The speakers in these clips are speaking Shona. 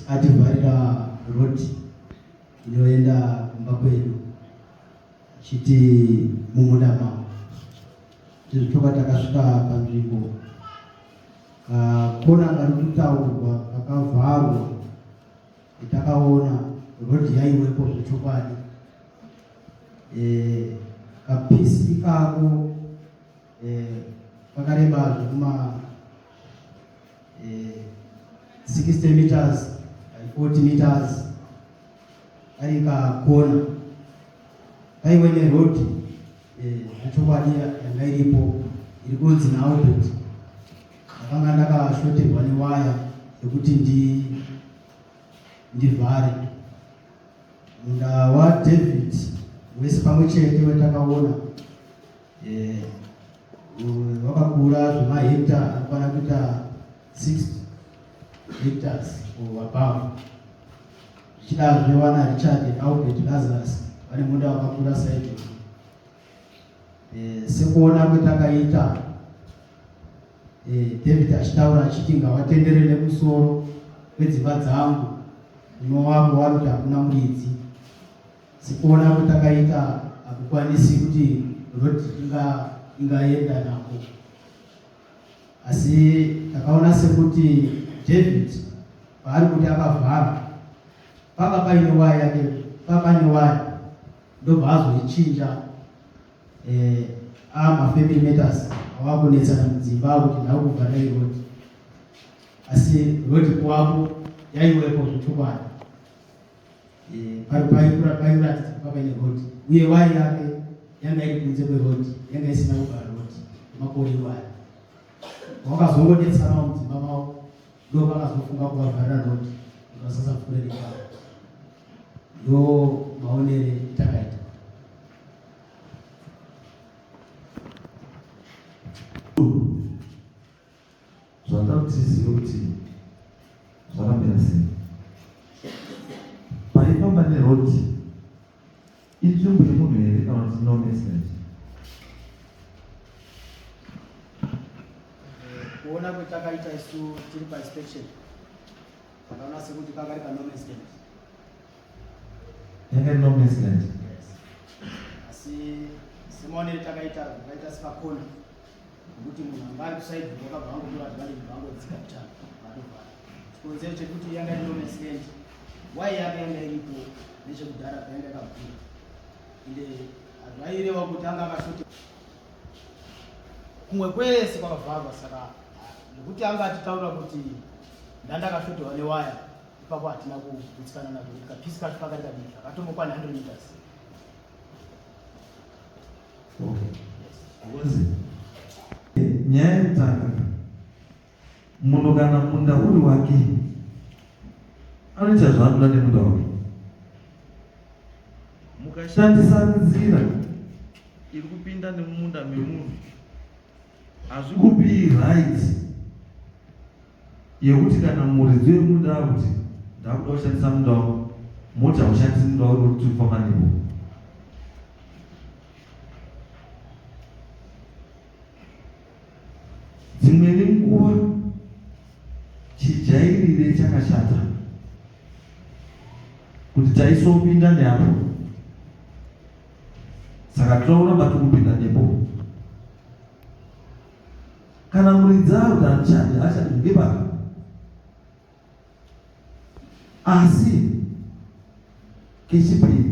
ativharira road inoenda kumba kwedu chiti mumuda mavo tizvitoka takasvika panzvimbo kakona kari kutaurwa kakavharwa itakaona road yaiwepo zvechokwadi e, kapisi kako pakareba zvekuma 60 meters 40 meters ari pakona paive neroad zvechokwadi yanga iripo iri kunzi naubert ndakanga ndakashoterwa newaya yekuti ndivhare munda wadavid wese pamwe chete wetakaona Eh, vakakura zvemahekta anokwana kuita 60 hectares or above zvichidazve wana richard albert lazarus vane munda wakakura saijo eh, sekuona kwetakaita eh, david achitaura achiti ngavatendere nemusoro kwedzimba dzangu unowangu waruti hakuna muridzi Sikuona kuti akaita hakukwanisi kuti road inga ingaenda nako, asi takaona sekuti David paari kuti akavhara panga paine waya yake papane waya ndobva azoichinja eh, amafamily matters awakunetsana mudzimba kuti ndakuvhara road asi road kwavo yaiwepo zvechokwadi Eh, pari paikura pairatidza kuva paine rhodhi uye waya yake yanga iri kunze kwerhodhi yanga isina kugara rhodhi makore iwaya wakazongodetserawo mudzimba mavo ndo vakazofunga kuvavharira rhodhi vasasapfuure nekava ndo maonere takaita zvatoda kuti zive kuti zvakamira sei paifamba neroti inzvimbo yemunhu here kana kuti no accident kuona kwetakaita isu tiri painspection pakaona sekuti pakari pa no accident yanga no accident asi semaonere takaita takaita sepakona Kuti munhu anga ari kusaidi wakabva angotora zvivali kubva angodzika kuchana vatovhara. Chikonzero chekuti yanga iri long accident why yanga yanga iripo nechekudhara payanga yakabvira ende hazvaireva kuti anga akashoti kumwe kwese kwakavharwa saka nekuti anga atitaura kuti ndandakashotiwa newaya ipapo hatina kugutsikana nazvo kuti kapisi kacho pakati kadiki akatomokwa 100 meters nyaya yekutanga munhu kana munda uri wake anoita zvaanoda nemunda wake mukashandisa nzira iri kupinda nemumunda memunhu hazvikupi right yekuti kana muridzi wemunda akuti ndakuda kushandisa munda wako moti haushandisi munda wako kuti ufamba nebo dzimweni nguva chijairire chakashata kuti taisopinda neapo saka tinoona mati kupinda nepo kana muridzi aruda ndichani achati ndibaka asi kechipiri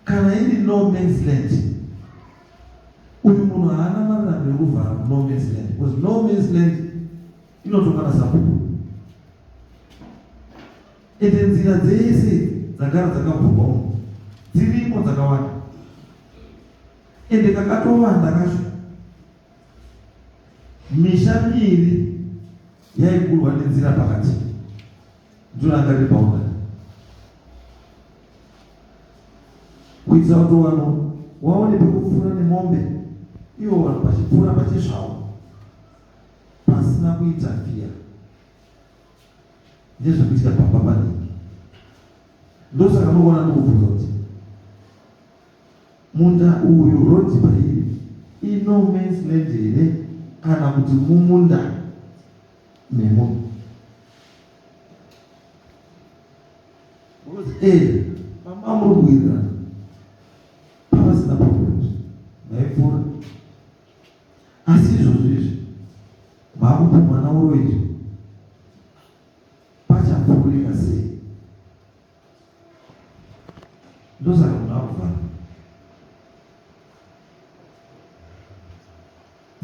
kana iri no mans land uyu munhu haana marirano yekuvhara no mans land because no mans land inotokana sabhuku Ende nzira dzese dzagara dzakavhurwa umu dzirimo dzakawanda ende kakatovanda kacho misha miiri yaigurwa nenzira pakati ndoranga ribaunda kuitira kuti vanhu waone pekupfuura nemombe ivo vanhu vachipfuura pachizvavo pasina kuita fiya ndizvo kuitika pamba panenge ndosaka munoona ndokubvunza kuti munda uyu rodzi pairi ino mans land here kana kuti mumunda memunhu unoti e eh, pamba muri kuwirirana pavasina problem maipfuura Asi izvozvi izvi vakupumhwa nauro izvi pachapfuurika sei? Ndosaka munhu akuvhara.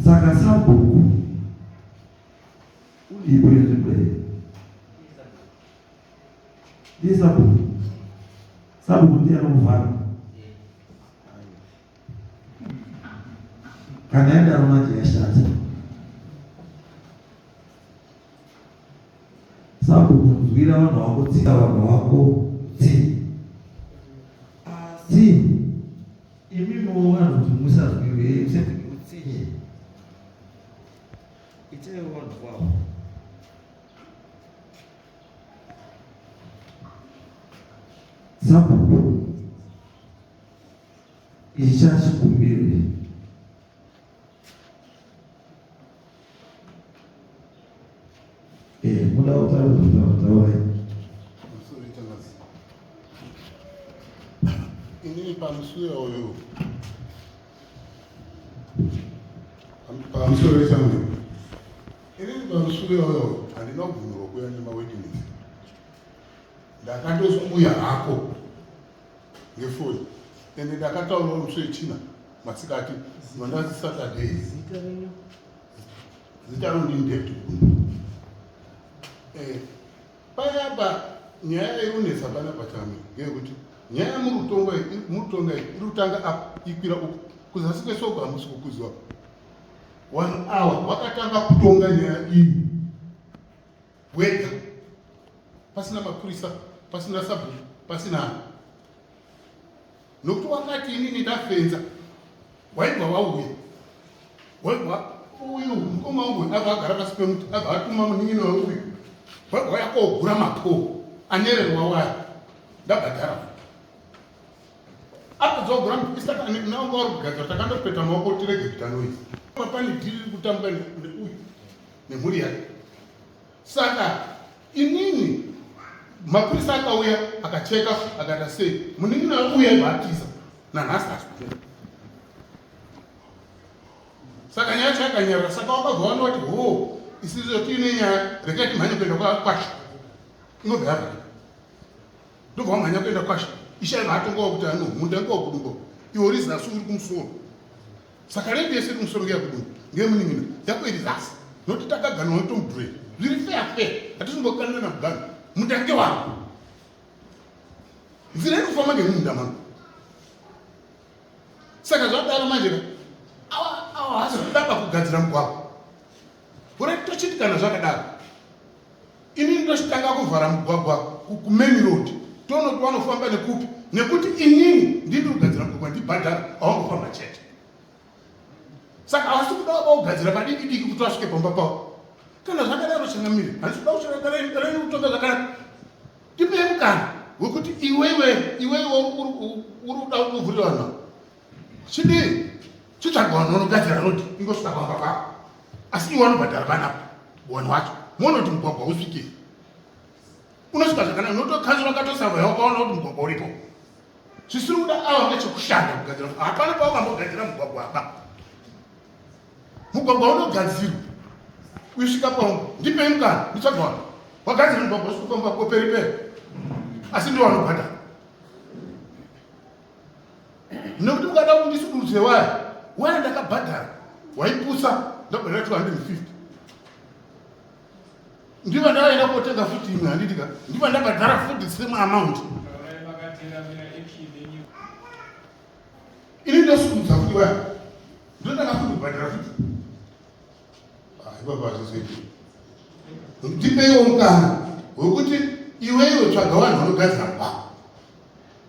Saka sabhuku ulipo yenzvimbo iyi ndiye sabhuku sabhuku ndiye anokuvhara kana yadaro manje yashata sabhuku nzwira vanhu vako tsika vanhu vako tsi tsi imi moona kuti musazwirwe musazwirutsinye itai vanhu vavo sabhuku icha chikumbiro eh muda kutaura kutaura kutaura ini pamusure uyu pamusure wechamwe ini pamusure uyo handina kubvumirwa kuya nemawitness ndakatosikuya hako ngefoni ende ndakataurawo musi wechina masikati mandazi saturday zita rino ndindeti eh, payapa nyaya yainonetsa pana pachame ngeyekuti nyaya yemurutonga murutonga iri kutanga apa ikwira uku kuzasi kwesoko hamusi kukuziwa one hour wakatanga kutonga nyaya iyi wega pasina mapurisa pasina sabhuku pasina ani nokuti wakati inini ndafenza waibva wauya waibva uyu mukoma wangu ava agara pasi pemuti ava atuma munin'ina weuyu waibva waya kogura mapoo anererwa waya ndabhadhara apedzogura mapistanaonga wari kugadzira takandopeta maoko tirege kuita noise papani dhiri riri kutambwa neuyu nemhuri yake saka inini mapurisa akauya akacheka akata sei munin'ina auya ibatiza nanhasi azvipera saka nyaya yacho yakanyarara saka wakabva wanda wati ho isizo tiine nyaya rekai timhanye kuenda kwakwasha inobva yavhara ndobva wamhanya kuenda kwasha ishaiva atongawa kuti anohunda ngowa kudumbo iwo rizasi uri kumusoro saka rendi yese kumusoro kuya kudu ndiye munin'ina yako iri zasi nokuti takaganwa notomudhure zviri fea fea hatizombokanana nakuganwa mutange wako nzira iri kufamba ngemunda mano saka zvadaro manje ka awa awa hazikudaba kugadzira mugwagwa gore tochiti kana zvakadaro inini tochitanga kuvhara mugwagwa kumeni road toona kuti vanofamba nekupi nekuti inini ndiri kugadzira mugwagwa ndibhadhara awangofamba chete saka havasi kuda vaba kugadzira padiki diki kuti vasvike pamba pavo kana zvakadaro changamire handisi kuda kuchangadarei kutonga zvakanaka ndipei mukana wekuti iwewe iwewe uri kuda kuvhurira vanhu Chidii? Chitsvaga vanhu vanogadzira road ingosvika pamba pako. Asi iwe anobhadhara vana wani wacho. Muone kuti mugwagwa usvike. Unosvika zvakanaka unotokanzura ukatosava yawo ukaona kuti mugwagwa uripo. Zvisiri kuda awa ngechekushanda kugadzira. Hapana pawakambogadzira mugwagwa apa. Mugwagwa unogadzirwa. Uisvika pawo ndipei mukana nditsvaga vanhu. Wagadzira mugwagwa usvika pamba pako peri peri. Asi ndiwo anobhadhara. nekuti ukada kuti ndisududze waya waya ndakabhadhara waipusa ndabhadhara 250 ndiva ndavaenda kotenga futi imwe handiti ka ndiva ndabhadhara futi same amount ini ndosududza futi waya ndotanga futi kubhadhara futi haibaba ah, zvizoiti ndipeiwo mukana wekuti iweiwe tsvaga vanhu vanogadzira baa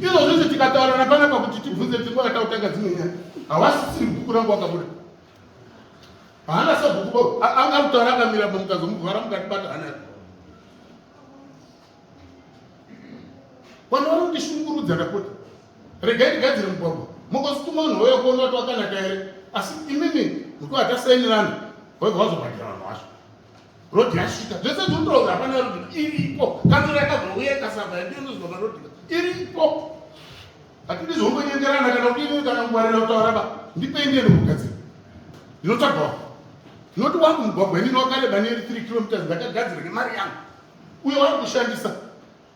izvo zvese tikataurana panapa kuti tibvunze tingo yatautanga dzimwe nyaya hawasisiri bhuku rangu wakabuda haana sabhuku anga kutaura akamira pamukazomuvhara mukatibata hana vanhu vanondishungurudza ndapota regai ndigadzire mugwagwa mokosituma vanhu vauya kuona vati wakanaka here asi imimi mukuva tasainirana vaibva vazobhadhira vanhu vacho Rodi yasvika zvese zvinotaura hapana rodi iripo kanzura yakazouya ikasava yandiinozwa marodi iripo hatidi zvongonyengerana kana kudii kana kungwarira kutaura ba ndipei ndiye ndokugadzira ndinotsvagawo ndinoti wangu mugwagwa inini wakareba neri three kilometers ndakagadzira nemari yangu uye wari kushandisa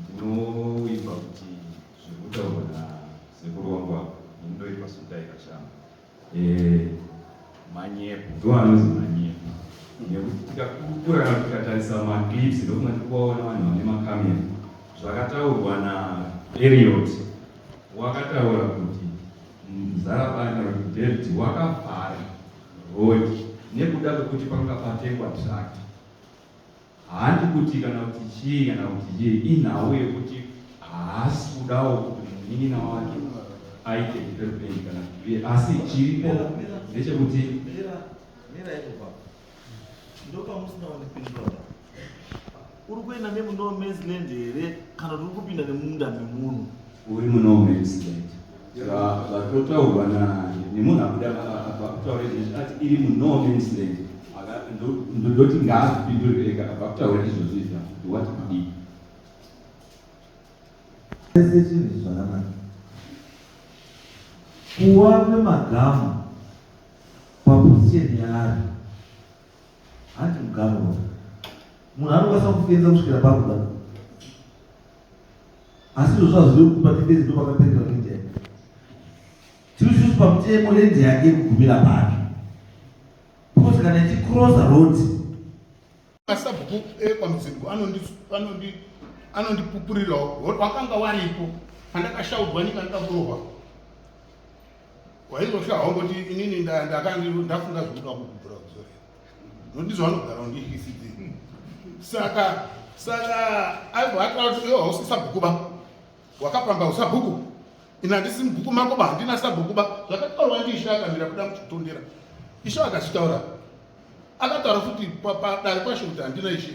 Ndinoimba kuti zviri kutaurwa nasekuru wangu apa ini ndoimba sudai kashama eh, manyepo ndo anonzi manyepo nekuti tikakurana tikatarisa maclips ndokuma tiri kuvaona vanhu vane makamera zvakataurwa naeriot wakataura kuti muzarabana kuti david wakavhara rodi nekuda kwekuti panga patengwa trakt Handi kuti kana kuti chii kana kuti chii, inhau yekuti haasi kudawo kuti munin'ina wake aite development kana kuti asi chiripo ndechekuti uri kuenda nemuno man's land here kana kuti uri kupinda nemunda memunhu uri muno man's land zvatotaurwa nemunhu akuda vakutaura izvozvi ati iri muno means land ndoti ngaazipindure ega vakutaura izvozvi izva ndiwati kudii ese chinhu zvakanaka kuva nemagamu paposiyeni yaari hanti mugamu munhu anokwanisa kufenza kusvikira pakuda asi izvozvo hazvidi kuti patifezi ndo pakapendera kuindia tiri sisi pamutemo lendi yake kugumira pake because kana ichicrosa road masabhuku ekwamudzimbo anondipupurirawo wakanga waripo pandakashaudwa nyika ndikakurohwa waizoshahawo kuti inini ndakandafunga zvekuda kukubvura kuzorera ndizvo vanogara ndiecd saka saka aati iwe hausi sabhuku ba wakapamba usabhuku ini handisi mubhuku mako ba handina sabhuku ba zvakataurwa ndiishe akamira kuda muchitondera ishe akazvitaura akataura futi padare kwashe kuti handina ishe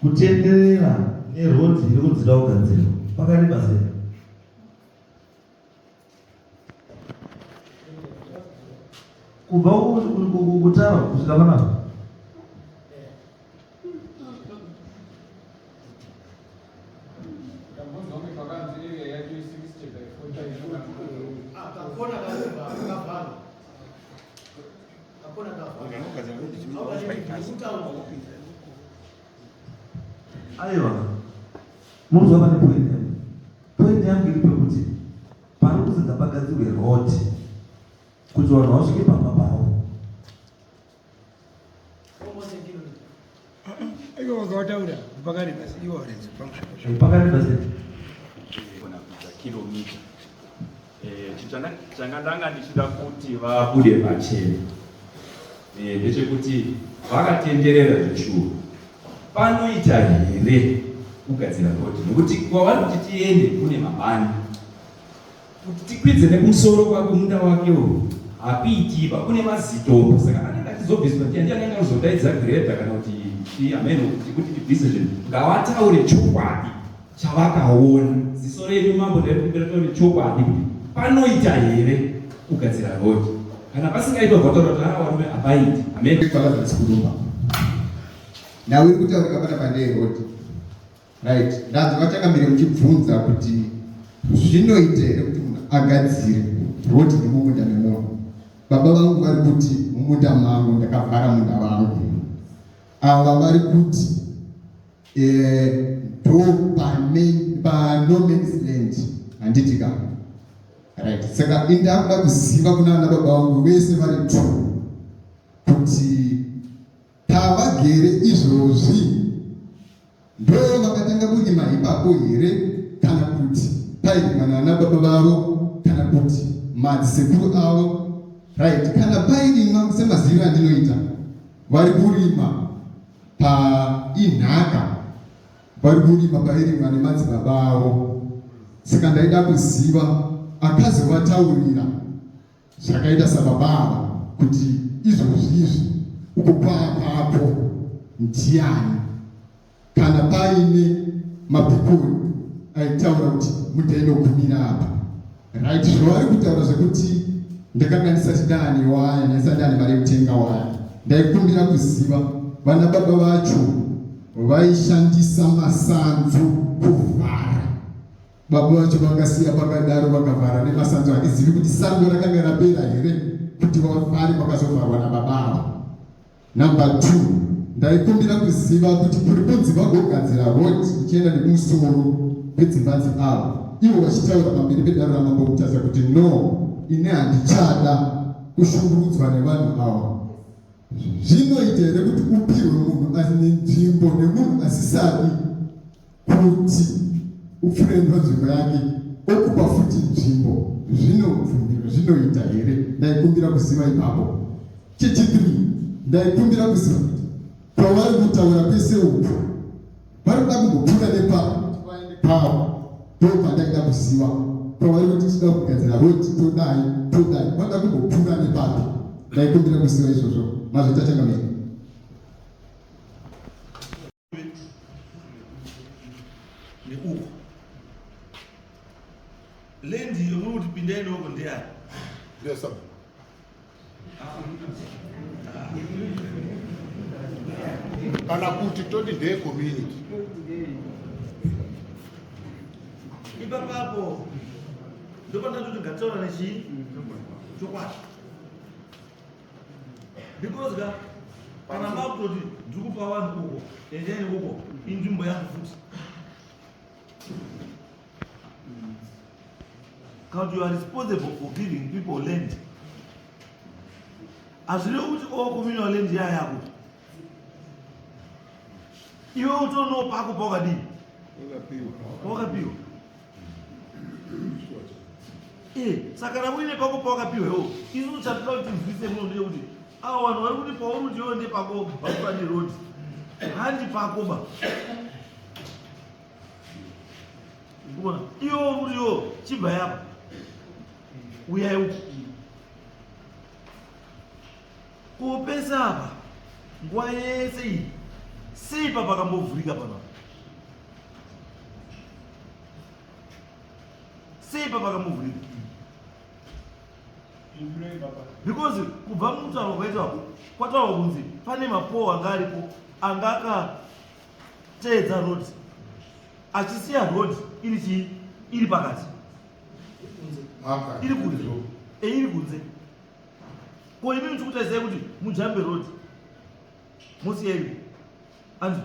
kutenderera nerodhi iri kudzida kugadzirwa pakareba sei kubva kutara kusvika panapa aiwa munzwa pane point yangu point yangu iri pekuti pari kuti ngapagadzirwe road kuti vanhu vasvike pamba pavo kilomita eh, changa ndanga ndichida kuti vabude pachena eh, ndechekuti vakatenderera zvechuru panoita here kugadzira rhodhi nokuti kwavari kuti tiende kune mabani kuti tikwidze nekumusoro kwako munda wake uyu hapiitiba kune mazitombo saka anenge achizobviswa ti andiani anga anozodaidza greda kana kuti ti hameno kuti kuti tibvise zvinhu ngavataure chokwadi chavakaona ziso renyu mambo ndaikumbira taure chokwadi kuti panoita here kugadzira rodi kana pasingaitwa vataura kuti aa varume hapaiti hameno kwakazasi kurumba nhau iri kutaurika pana pandee rodi Right. Ndanzwa vatanga mbiri muchibvunza kuti zvinoita here kuti munhu agadzire road nemumunda memunhu. Baba vangu vari kuti mumunda mangu ndakavhara munda vangu. Ava vari kuti eh, ndo pano man's land handiti ka right saka indakuda kuziva kuna ana baba vangu vese vari two kuti Tavagere izvozvi ndo vakatanga kurima ipapo here kana kuti pairima nana baba vavo kana kuti madzisekuru avo right kana pairima semazivi andinoita vari kurima painhaka vari kurima pairimwa nemadzibaba avo saka ndaida kuziva akazovataurira zvakaita sababa ava kuti izvozvi izvi uko kwava kwapo ndiani kana paine mabhikuru aitaura kuti mudaino gumira apa right zvavari kutaura zvekuti ndakanga ndisati dani waya ndaisati dani mari yekutenga waya ndaikumbira kuziva vana baba vacho vaishandisa masanzu kuvhara Baba vacho vakasiya pakadaro vakavhara nemasanzu handizivi kuti sango rakanga rapera here kuti vafare vakazovharwa nababa ava. Number two, ndaikumbira kuziva kuti kuri kunzi vagogadzira road ichienda nemusoro vedzimbanzi ava ivo vachitaura pamberi pedaro ramambo kutaza kuti no ine handichada kushungurudzwa nevanhu ava zvinoita here kuti upirwe munhu ane nzvimbo nemunhu asisadi Pano kuti upfure nzvimbo yake okupa futi nzvimbo zvinobvumirwa zvinoita here ndaikumbira kuziva ipapo chechitiri ndaikumbira kuziva kuti pavari kutaura pese uku vari kuda kumbopfuura nepapa kuti vaende pavo ndopandaida kuziva pavari kuti tida kugadzira roti todai todai vanoda kumbopfuura nepapi ndaikumbira kuziva izvozvo mazvitachangamira neuko lendi yomuri kuti pindai neuko ndeyani kana kuti toti ndeye community ipapapo ndopandati kuti ngataura nechii chokwadi because ka kana makutoti ndiri kupa vanhu uko endeni uko inzvimbo yangu futi kuti you are responsible for giving people land hazvirevi kuti o oh, communal land yaya yako iwe utonopa akupa wakadii wakapiwa Eh, saka na uine pako pawakapiwewo isu uchatoda kuti nzwise muno ndeye kuti awa vanhu vari kuti pauri kuti iwe ndepako bapani road handi pako ba kuona iwo kuti iwo chibva yapa uyai uku kupesa apa nguva yese iyi seipa pakambovhurika panapa sei baba kamuvhurira because kubva mutauro kwaitako kwataurwa kunzi pane mapowo anga aripo anga akateedza road achisiya road iri chii iri pakati iri kunze eiri kunze ko imi muchikutarisai kuti mujambe road mosiyaiko anzwa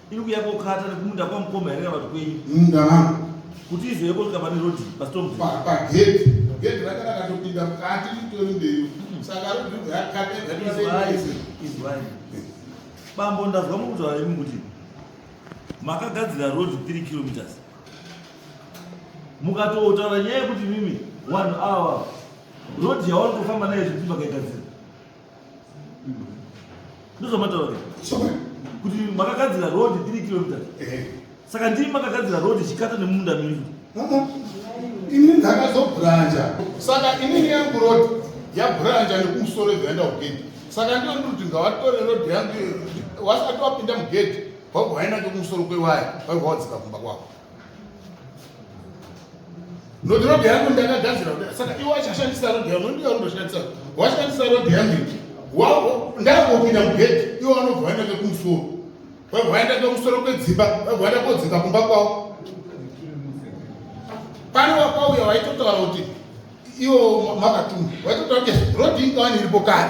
Iri kuya kokata nekumunda kwamukoma here kana kuti kwenyu? Munda wangu. Kuti izoye kosvika pane road paStorm. Pa pagate. Gate ranga rakatopinda mukati ritori mberi. Mm-hmm. Saka road ribva yakata yakata. Izwai. Bambo ndazwa mukutaura imi kuti makagadzira road 3 kilometers. Mukatotaura nyaya yekuti mimi vanhu awa road yawanotofamba nayo zvekuti makaigadzira ndozvamataura kuti makagadzira road 3 kilometers eh. saka ndii makagadzira road chikata nemunda menyu ini ndakazobhuranja saka inini yangu road yabhuranja nekumusoro yekuenda kugedhi saka ndiro ndiri kuti ngavatore road yangu wasati wapinda mugedhi wakuhwainake kumusoro kwewaya waivawadzika kumba kwako Noti road yangu ndakagadzira saka iwe wachashandisa road yangu ndiye unondoshandisa washandisa road yangu wavo ndakopinda mugedhi iwe wanobva waenda kekumusoro wabva waenda kekumusoro kwedzimba wabva waenda kodzinga kumba kwavo pane wakwauya waitotaura kuti iwo makatumwa waitotaura kuti road ingawani iripo kare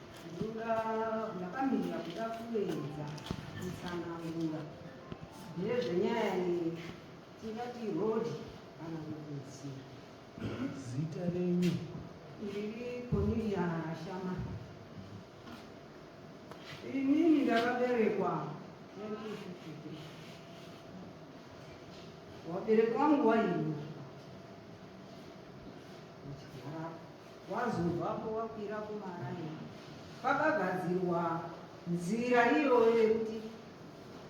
Ndakamirira kuda kuedza kutsanangura nezvenyaya iyi tingati rhodhi kana kukudzira. Zita renyu? Ndiri Cornelia Shama. Inini ndakaberekwa 1953. Waberekwa nguva ino. wazobvapo wakwira kumaraini pakagadzirwa nzira iyoyo yekuti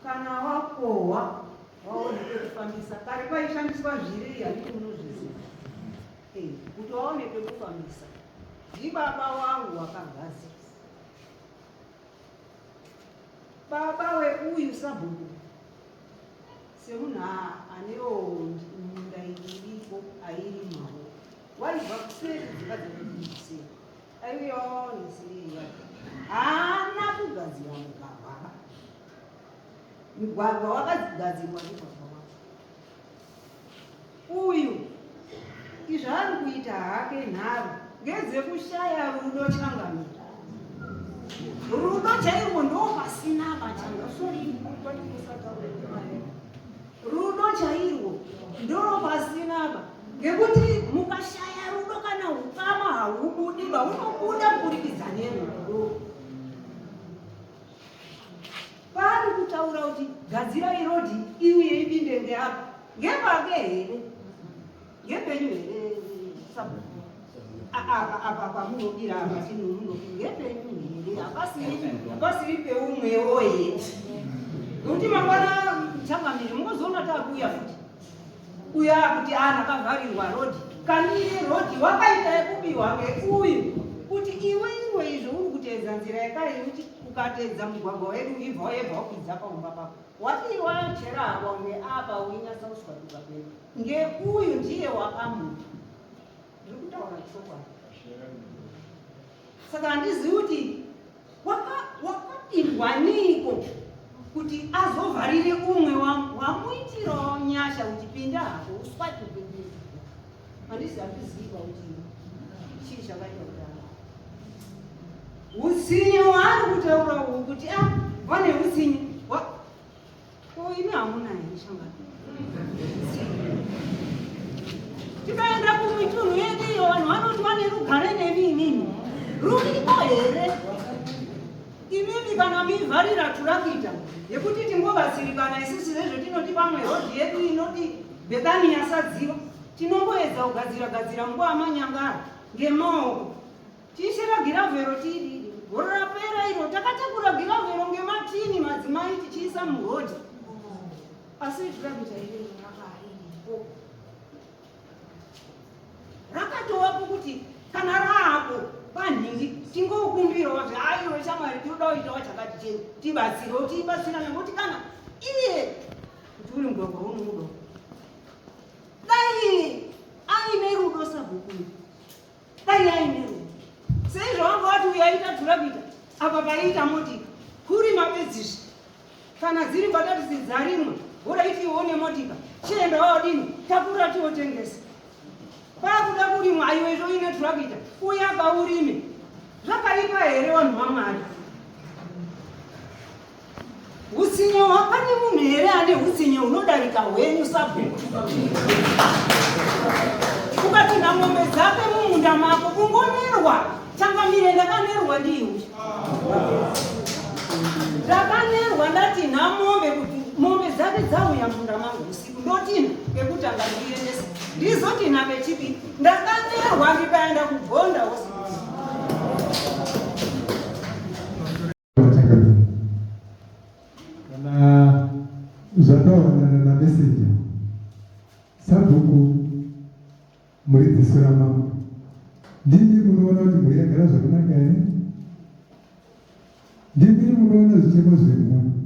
kana wakohwa waone pekufambisa kare paishandiswa zviri handiti munozviziva eh, kuti waone pekufambisa ndibaba wangu wakagadzira baba weuyu sabhuku semunhu anewo munda iriko airi mao Waibva kuseri dzimba dzekuisi. Aiyo nisiya. Haana kugadzira mugwagwa. Mugwagwa wakagadzirwa mugwagwa wacho. Uyu izvo ari kuita hake nharo ngedzekushaya rudo changamira. Rudo chairwo ndopasina machanga. Sorry, kwati kusataura. Rudo chairwo ndoro pasina apa ngekuti mukashaya rudo kana ukama haubudi ba unobuda kuburikidza nerudo. Paari kutaura kuti gadzira irodi iuye ipinde ngeapa ngepake here Ngepenyu here sabhuku? Apa apa pamunodira apa tinomunoti ngepenyu here? Hapasiri hapasiri peumwewo here? Nokuti mangwana changamire mungozoona takuuya futi. Uya kuti ana kavharirwa road. Kani road wakaita yekubiwa ngeuyu kuti iwe iwe izvo uri kuteedza nzira yekare yekuti ukatedza mugwagwa wedu ibva yebva wapidza paumba pako. Wadiwa cherahwa une apa uinyasa kuswa kubva pepa. Ngeuyu ndiye wakamupa. Ndiri kutaura chokwadi. Saka handizivi kuti wakapindwa niiko kuti azovharire umwe wamuitirawo nyasha kuti pinda hako uswati Handisi hakuziva kuti chii chakaita kudaro. Hutsinye waari kutaura uhu kuti a ah, vane hutsinye ko imi hamuna here shangano tikaenda kumitunhu yedu iyo vanhu vanoti vane rugare nemi imimi ruriko here imimi kana mivharira turakita yekuti tingobatsirikana isisi zvezvetinoti pamwe hodhi yedu inoti Bethany asaziva tinongoedza kugadzira gadzira nguva manyangara ngemaoko tichera giravhero tiri goro rapera iro takatakura giravhero ngematini madzimai tichiisa murodhi asi zvirabichaireakaipo rakatovapo kuti kana raapo panhingi tingokumbirawo kuti aiwe shamwari tinoda kuitawo chakati chenu tibatsirewo tiibatsira nekuti kana iye kuti uri mugwagwa unomuda dai aine rudo sabhuku dai aine rudo seizvo wanga wati uyo aita dhurabita apa paiita moti kuri mapedzizvi kana dziri mbatatisi dzarimwe woda iti ione motika chienda waodini takura tiotengesa pakuda kurimwa aiwe izvo ine dhurabita uye apa urime zvakaipa here vanhu vamwari Hutsinye hwapane munhu here ane hutsinye hunodarika hwenyu sabhuku? Ukapinda mombe dzake mumunda mako ungonerwa changamire ndakanerwa ndiwe ndakanerwa ndati namombe kuti mombe dzake dzauya munda mangu usiku ndotina ngekutanga ndiendesa ndizotina kechipi ndakanerwa ndikaenda kugonda usiku kana zvataurana namesenja sabhuku muri dziso ramambo ndimi munoona kuti mhuri yagara zvakanaka here ndimi munoona zvichemo zvemhuri